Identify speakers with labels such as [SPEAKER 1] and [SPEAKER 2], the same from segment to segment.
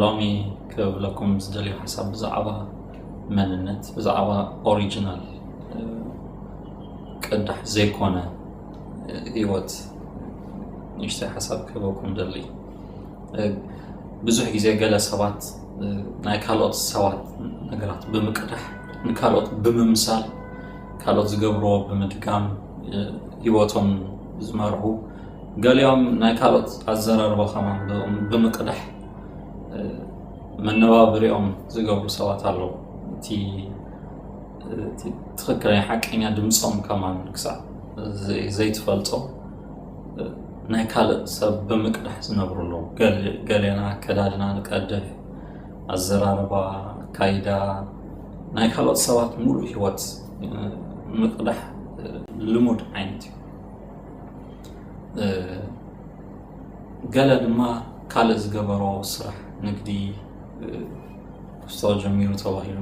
[SPEAKER 1] ሎሚ ክብለኩም ዝደልዮ ሓሳብ ብዛዕባ መንነት ብዛዕባ ኦሪጂናል ቅዳሕ ዘይኮነ ህይወት ንእሽተይ ሓሳብ ክህበኩም ደሊ ብዙሕ ግዜ ገለ ሰባት ናይ ካልኦት ሰባት ነገራት ብምቅዳሕ ንካልኦት ብምምሳል ካልኦት ዝገብርዎ ብምድጋም ህይወቶም ዝመርሑ ገሊኦም ናይ ካልኦት ኣዘራርባ ከማን ብምቅዳሕ መነባብሪኦም ዝገብሩ ሰባት ኣለዉ እቲ ትክክለኛ ሓቀኛ ድምፆም ከማን ክሳዕ ዘይትፈልጦ ናይ ካልእ ሰብ ብምቅዳሕ ዝነብሩ ኣለዉ ገሌና ኣከዳድና ንቀድሕ ኣዘራርባ ኣካይዳ ናይ ካልኦት ሰባት ሙሉእ ሂወት ምቅዳሕ ልሙድ ዓይነት እዩ ገለ ድማ ካልእ ዝገበሮ ስራሕ ንግዲ ክስቶ ጀሚሩ ተባሂሉ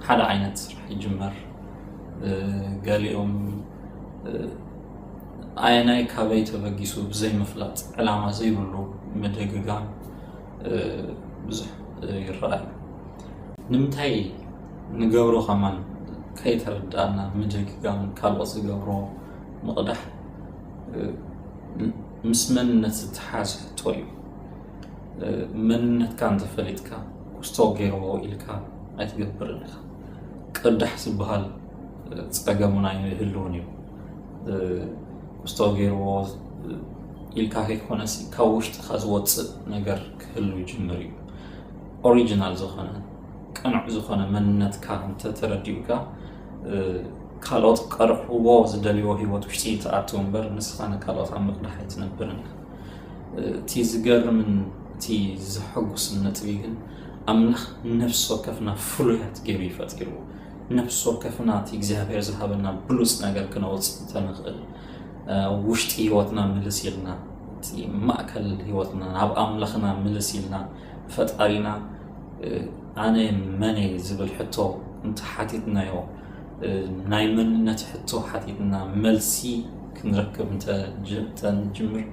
[SPEAKER 1] ሓደ ዓይነት ስራሕ ይጅመር ገሊኦም ኣየናይ ካበይ ተበጊሱ ብዘይምፍላጥ ዕላማ ዘይብሉ ምድግጋም ብዙሕ ይረኣዩ ንምንታይ ንገብሮ ከማን ከይተረዳእና ምድግጋም ካልኦት ዝገብሮ ምቕዳሕ ምስ መንነት ዝተሓዝ ሕቶ እዩ መንነትካ እንተፈሊጥካ ኩስቶ ገይርዎ ኢልካ ኣይትገብርን ኢኻ ቅዳሕ ዝበሃል ፀገሙን ኣይህልውን እዩ ኩስቶ ገይርዎ ኢልካ ከይኮነሲ ካብ ውሽጥካ ዝወፅእ ነገር ክህሉ ይጅምር እዩ ኦሪጂናል ዝኾነ ቅኑዕ ዝኾነ መንነትካ እንተተረዲኡካ ካልኦት ክቀርሕዎ ዝደልይዎ ሂወት ውሽጢ ትኣትው እምበር ንስኻ ንካልኦት ኣብ ምቕዳሕ ኣይትነብርን ኢኻ እቲ ዝገርምን እቲ ዘሐጉስን ነጥቢ ግን ኣምላኽ ነፍሲ ወከፍና ፍሉያት ገይሩ እዩ ፈጢርዎ ነፍሲ ወከፍና እቲ እግዚኣብሔር ዝሃበና ብሉፅ ነገር ክነውፅእ ተንኽእል ውሽጢ ሂወትና ምልስ ኢልና እቲ ማእከል ሂወትና ናብ ኣምላኽና ምልስ ኢልና ፈጣሪና ኣነ መን እየ ዝብል ሕቶ እንተሓቲትናዮ ናይ መንነት ሕቶ ሓቲትና መልሲ ክንረክብ እንተንጅምር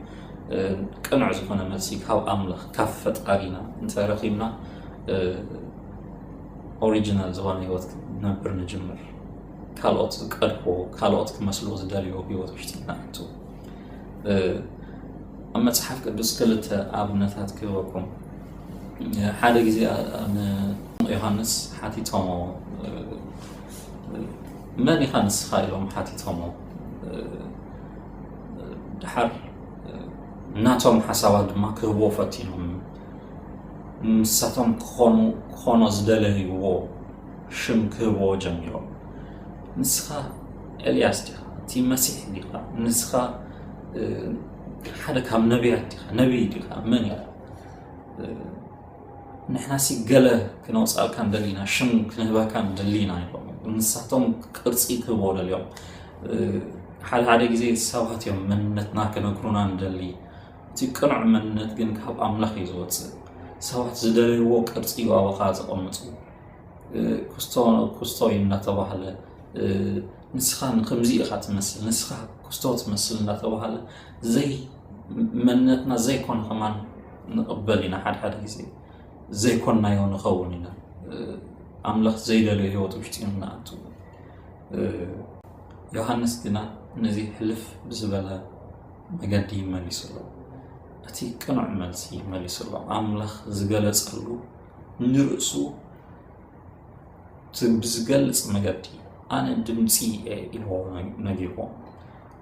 [SPEAKER 1] ቅኑዕ ዝኾነ መልሲ ካብ ኣምላኽ ካብ ፈጣሪና እንተረኪብና ኦሪጂናል ዝኾነ ህይወት ነብር ንጅምር ካልኦት ዝቀድዎ ካልኦት ክመስሎ ዝደልዮ ህይወት ውሽጢና ኣቱ ኣብ መጽሓፍ ቅዱስ ክልተ ኣብነታት ክህበኩም ሓደ ግዜ ንዮሃንስ ሓቲቶሞ መን ኢኻ ንስኻ ኢሎም ሓቲቶሞ ድሓር ናቶም ሓሳባት ድማ ክህቦ ፈቲኖም ንሳቶም ክኾኑ ክኾኖ ዝደለይዎ ሽም ክህብዎ ጀሚሮም። ንስኻ ኤልያስ ዲኻ? እቲ መሲሕ ዲኻ? ንስኻ ሓደ ካብ ነቢያት ዲኻ? ነቢይ ዲኻ? መን ኢኻ? ንሕናሲ ገለ ክነውፃልካ ንደሊና ሽም ክንህበካ ንደሊና ይብሎም ንሳቶም ቅርፂ ክህቦ ደልዮም ሓደ ሓደ ግዜ ሰባት እዮም መንነትና ክነግሩና ንደሊ እቲ ቅኑዕ መንነት ግን ካብ ኣምላኽ እዩ ዝወፅእ። ሰባት ዝደለይዎ ቅርፂ እዩ ኣባኻ ዘቐምፁ ክስቶ ክስቶ እዩ እናተባህለ ንስኻ ንከምዚ ኢኻ ትመስል ንስኻ ክስቶ ትመስል እናተባህለ ዘይ መንነትና ዘይኮነ ከማን ንቕበል ኢና ሓድሓደ ግዜ ዘይኮናዮ ንኸውን ኢና ኣምላኽ ዘይደለዮ ህይወት ውሽጢ ንኣቱ ዮሃንስ ግና ነዚ ሕልፍ ብዝበለ መገዲ መሊሱሎ እቲ ቅኑዕ መልሲ መሊሱሎ ኣምላኽ ዝገለጸሉ ንርእሱ ብዝገልጽ መገዲ ኣነ ድምፂ እየ ኢልዎ ነጊርዎ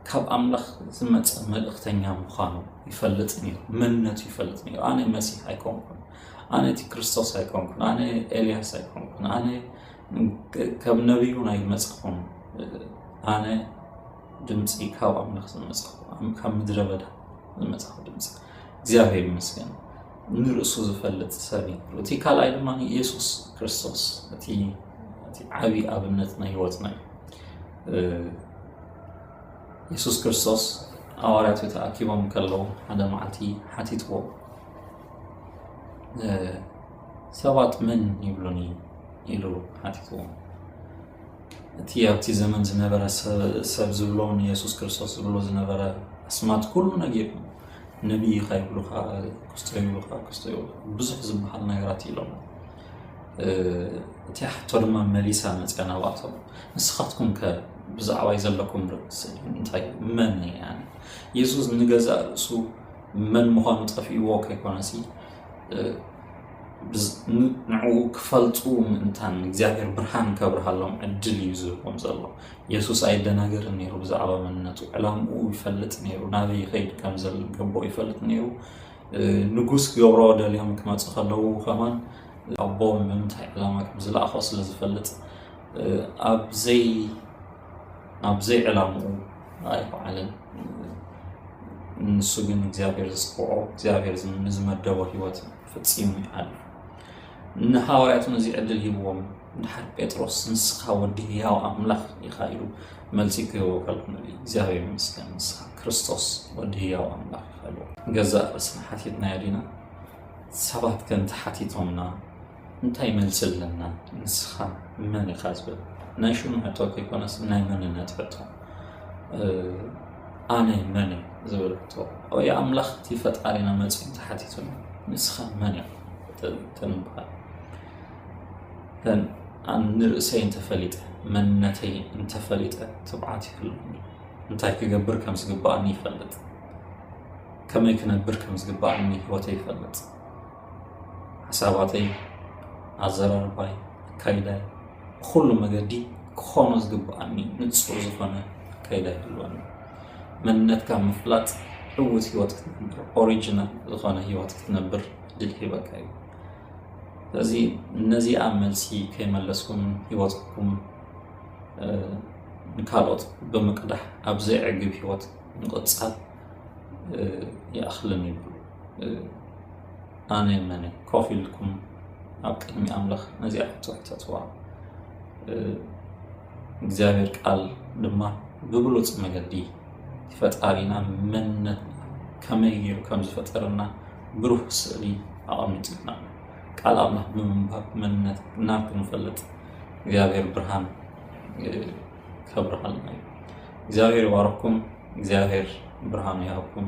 [SPEAKER 1] ካብ ኣምላኽ ዝመፀ መልእኽተኛ ምዃኑ ይፈልጥ ነይሩ መንነቱ ይፈልጥ ነይሩ ኣነ መሲሕ ኣይኮንኩን ኣነ እቲ ክርስቶስ ኣይኮንኩን ኣነ ኤልያስ ኣይኮንኩን ኣነ ከም ነቢዩን ኣይመፀኹን ኣነ ድምፂ ካብ ኣምላኽ ዝመፃኹ ካብ ምድረ በዳ ዝመፃኹ ድምፂ እግዚኣብሔር ይመስገን ንርእሱ ዝፈልጥ ሰብ እዩ እቲ ካልኣይ ድማ ኢየሱስ ክርስቶስ እቲ ዓብዪ ኣብነት ናይ ህይወትና እዩ ኢየሱስ ክርስቶስ ኣዋርያቱ ተኣኪቦም ከለዉ ሓደ መዓልቲ ሓቲትዎ ሰባት መን ይብሉኒ ኢሉ ሓቲትዎ እቲ ኣብቲ ዘመን ዝነበረ ሰብ ዝብሎ ንየሱስ ክርስቶስ ዝብሎ ዝነበረ ኣስማት ኩሉ ነጊሩ ነቢ ኢኻ ይብሉኻ ክስቶ ይብሉኻ ክስቶ ይብሉኻ ብዙሕ ዝበሃል ነገራት ኢሎም እቲ ሕቶ ድማ መሊሳ መፅያ ናብኣቶም ንስኻትኩም ከ ብዛዕባይ ዘለኩም ርእሲ እንታይ መን እያ የሱስ ንገዛእ ርእሱ መን ምዃኑ ጠፊእዎ ከይኮነሲ ንዕኡ ክፈልጡ ምእንታን እግዚኣብሔር ብርሃን ከብርሃሎም ዕድል እዩ ዝህቦም ዘሎ የሱስ ኣይደናገርን ነይሩ ብዛዕባ መንነቱ ዕላምኡ ይፈልጥ ነይሩ ናበይ ይኸይድ ከም ዘገቦ ይፈልጥ ነይሩ ንጉስ ክገብሮ ደልዮም ክመፁ ከለዉ ከማን ኣቦ ንምንታይ ዕላማ ከም ዝለኣኾ ስለ ዝፈልጥ ኣብዘይ ናብዘይ ዕላምኡ ኣይበዓልን ንሱ ግን እግዚኣብሔር ዝፅውዖ እግዚኣብሔር ንዝመደቦ ሂወት እዩ ፈጺሙ ይሓልፍ። ንሃዋርያት እውን እዚ ዕድል ሂብዎም ድሓር ጴጥሮስ ንስኻ ወዲ ህያው ኣምላኽ ኢኻ ኢሉ መልሲ ክህቦ ከልኩ እግዚኣብሔር ይመስገን ንስኻ ክርስቶስ ወዲ ህያው ኣምላኽ ኢኻ ኢሉ ገዛእ ርእስና ሓቲትናዮ ዲና ሰባት ከን ተሓቲቶምና እንታይ መልሲ ኣለና ንስኻ መን ኢኻ ዝብል ናይ ሽሙ ሕቶ ከይኮነስ ናይ መንነት ሕቶ ኣነ መን እየ ዝበለቶ ኦየ ኣምላኽ እቲ ፈጣሪና መፅዩ ተሓቲቱና ንስኻ መን እያ ተንበሃል ንርእሰይ እንተፈሊጠ መንነተይ እንተፈሊጠ ትብዓት ይህልኒ እንታይ ክገብር ከም ዝግባእኒ ይፈልጥ ከመይ ክነብር ከም ዝግባእኒ ህወተይ ይፈልጥ ሓሳባተይ፣ ኣዘራርባይ፣ ኣካይዳይ ብኹሉ መገዲ ክኾኖ ዝግብኣኒ ንፁር ዝኾነ ኣካይዳ ይህልወኒ። መንነትካ ምፍላጥ ዕውት ህይወት ክትነብር ኦሪጂናል ዝኾነ ህይወት ክትነብር ድል ሂበካ እዩ። ስለዚ እነዚኣ መልሲ ከይመለስኩም ህይወትኩም ንካልኦት ብምቅዳሕ ኣብ ዘይዕግብ ህይወት ምቕፃል ይኣኽልን ይብሉ። ኣነ መነ ኮፍ ኢልኩም ኣብ ቅድሚ ኣምላኽ ነዚኣ ክትሕተትዋ እግዚኣብሔር ቃል ድማ ብብሉፅ መገዲ ፈጣሪና መንነት ከመይ ገይሩ ከም ዝፈጠረና ብሩህ ስእሊ ኣቐሚጡልና ቃል ኣምላኽ ብምንባብ መንነት ናብ ክንፈልጥ እግዚኣብሔር ብርሃን ከብርሃልና እዩ እግዚኣብሔር ይባረኩም እግዚኣብሔር ብርሃኑ ይሃብኩም